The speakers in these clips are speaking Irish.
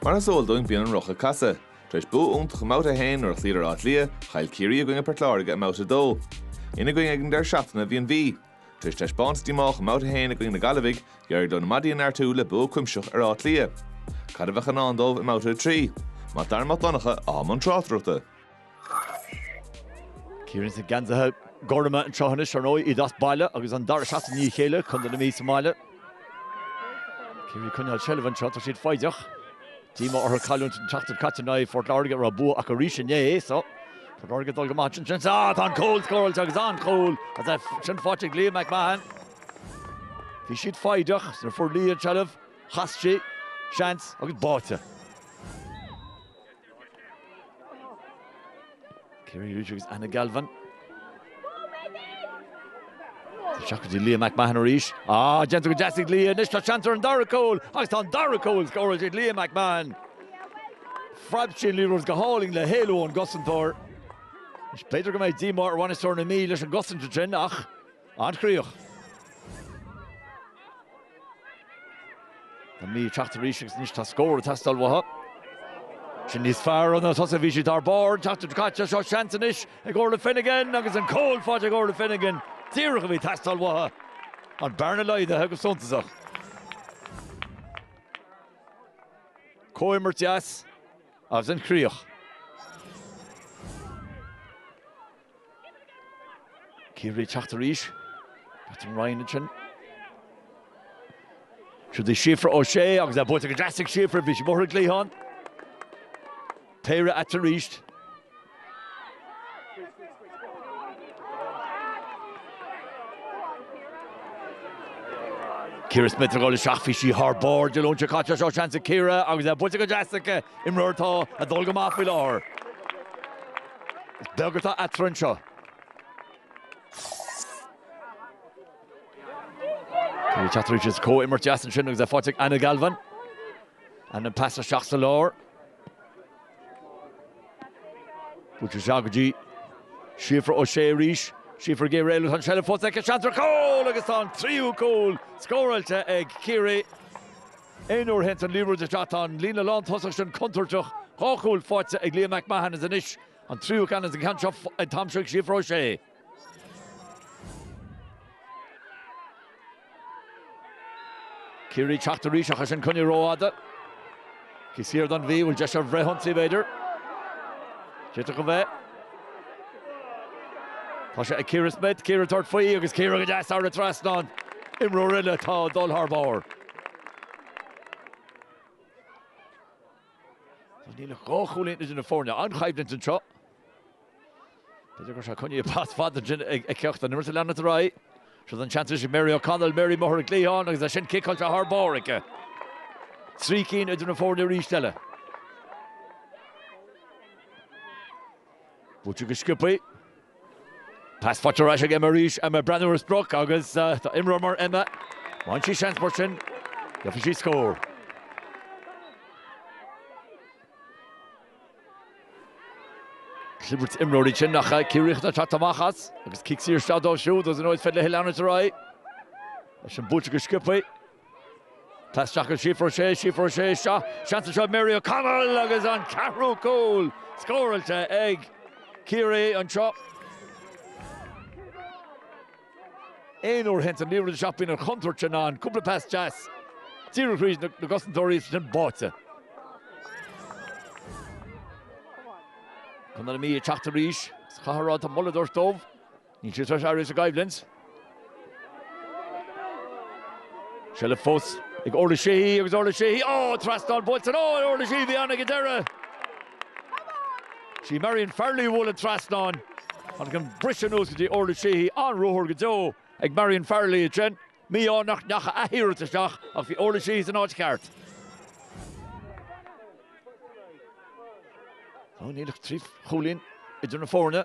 Mar is eol dúinn, bíonn an roth ag casadh. Tar éis bua iontach i mBabhta 1 nuair a chloíodar Áth Cliath, chaill Ciarraí i gcoinne Port Láirge i mBabhta 2. Ina gcoinne ag an deireadh seachtaine bhí an Mhí. Tar éis taispeántas díomách i mBabhta 1 i gcoinne na Gaillimhigh, d'éirigh leo na maidí a neartú le bua cuimsitheach ar Áth Cliath. Cad a bheadh i ndán dóibh i mBabhta 3? Mac Dara Mac Donncha i mbun tráchtaireachta. Ciarraí sna geansaithe gorma anseo anois ar ndóigh, iad as baile agus an dara seachtain i ndiaidh a chéile, contae na Mí sa mbaile. Ciarraí ag coinneáil seilbhe anseo, tá siad foighdeach. Díomá orthu cailliúint an tseachtain caite in aghaidh Phort Láirge a raibh bua acu arís inné. So, Port Láirge ag dul go maith ansin. Sin ah, tá an cúl scóráilte agus an-chúl é sin faighte ag Leah McMahon. Bhí siad foighdeach nuair a fuair Leah an tseilbh, chas sí, seans agus báite. Ciarraí arís agus Anna Galvin. Isteach go dtí Leah McMahon arís. Á, déanta go deas ag Leah anois, tá seans ar an dara cúl agus tá an dara cúl scóráilte ag Leah McMahon. Phreab sí an liathróid go hálainn le héalú ón gcosantóir. Is b'fhéidir go mbeidh díomá ar bhainisteoir na Mí leis an gcosaint ansin ach An-chríoch. An Mhí ag teacht arís agus anois tá scór ag teastáil uathu. Sin níos fearr, na tosaithe, bhí siad thar barr an tseachtain seo caite, seo seans anois ag Orla Finnegan agus an cúl faighte ag Orla Finnegan. Díreach a bhí ag teastáil uathu. An bearna laghdaithe go suntasach. Comhimirt dheas agus an-chríoch. Ciarraí ag teacht arís. Catherine Ryan ansin. Siúd í Síofra O'Shea agus é buailte go deas ag Síofra, bhí sí i mBóthar Gliadháin. Péire eatarthu arís. Ciara Smyth ag cur isteach, bhí sí thar barr Dé Luain seo caite, seo seans ag Ciara agus é buailte go deas aici imreoir atá ag dul go maith faoi láthair. Is beag atá eatarthu anseo. Ciarraí ag teacht arís, comhimirt deas ansin agus é faighte ag Anna Galvin. Anna an pas isteach sa lár. Buailte isteach go dtí Síofra O'Shea arís. Síofra ag iarraidh éalú, tá an tseilbh fós aici. Seans ar chúl agus tá an tríú cúl scóráilte ag Ciarraí. Aon uair a théann an liathróid isteach tá an líne lántosach sin contúirteach dhá chúl faighte ag Leah McMahon is anois an tríú ceann is an ceann seo atá aimsithe ag Síofra O'Shea. Ciarraí ag teacht arís ach ansin coinnithe rófhada. Cic saor don Mhí. Bhfuil deis ar fhrithionsaí b'fhéidir? D'fhéadfadh a bheith. Tá sé ag Ciara Smith, Ciara ag tabhairt faoi agus Ciara go deas thar an trasnán. Imreoir eile atá ag dul thar barr. Tá níl ach dhá chúilín idir na foirne, an-choimhlint anseo. B'fhéidir gur sé coinní a bpas fad ansin ag ceacht an imirce leanúint ar aghaidh. Seo é an seans anois ag Mary O'Connell, Mary amuigh ar an gcliathán agus ansin ciceáilte thar barr aici. Trí cinn idir na foirne arís eile. Buaite go sciobtha. Pas faighte ar ais ag Emma arís. Emma ag breathnú ar an sprioc agus tá imreoir mar Emma, má fhaigheann sí seans mar sin, gheobhaidh sí scór. Clibirt imreoirí sin nach Ciarraíoch atá ag teacht amach as agus cic saor isteach dóibh siúd agus an óid fed le Hill Arnott ar aghaidh. Leis an buaite go sciobtha. Pas isteach go Síofra Ó Sé, Síofra Ó Sé, seo seans anseo ag Mary O'Connell agus an ceathrú cúl scóráilte ag Ciarraí anseo. Aon uair a théann an liathróid isteach bíonn an chontúirt sin ann, cúpla pas deas díreach thríd na cosantóirí is ansin báite. Contae na Mí ag teacht arís sa cheathrú ann, tá moladh ag dul dóibh An Mhí seo arís i gcoimhlint. Seilbh fós ag Orlagh Sheehy agus Orlagh Sheehy, oh! Trasnán buailte ansin! Orlagh Sheehy a bhí ann ag an deireadh. Sí Marion Farrelly a bhuail an trasnán. Tháinig an briseadh anuas go dtí Orlagh Sheehy. An-ruathar go deo ag Marion Farrelly ansin. Mí-ádh nach ndeacha a hiarracht isteach ach bhí Orlagh Sheehy san áit cheart. Níl ach trí chúilín idir na foirne.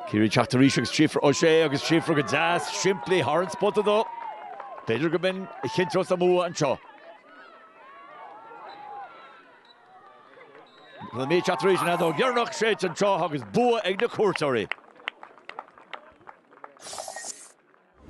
Ciarraí ag teacht arís agus Síofra Ó Sé agus Síofra go deas simplí thar an bposta dó. B'fhéidir go mb'in a chinnteos an bua anseo. Tá an Mhí ag teacht arís an fheadóg dheireanach séidte an tráth seo agus bua ag na cuairteoirí.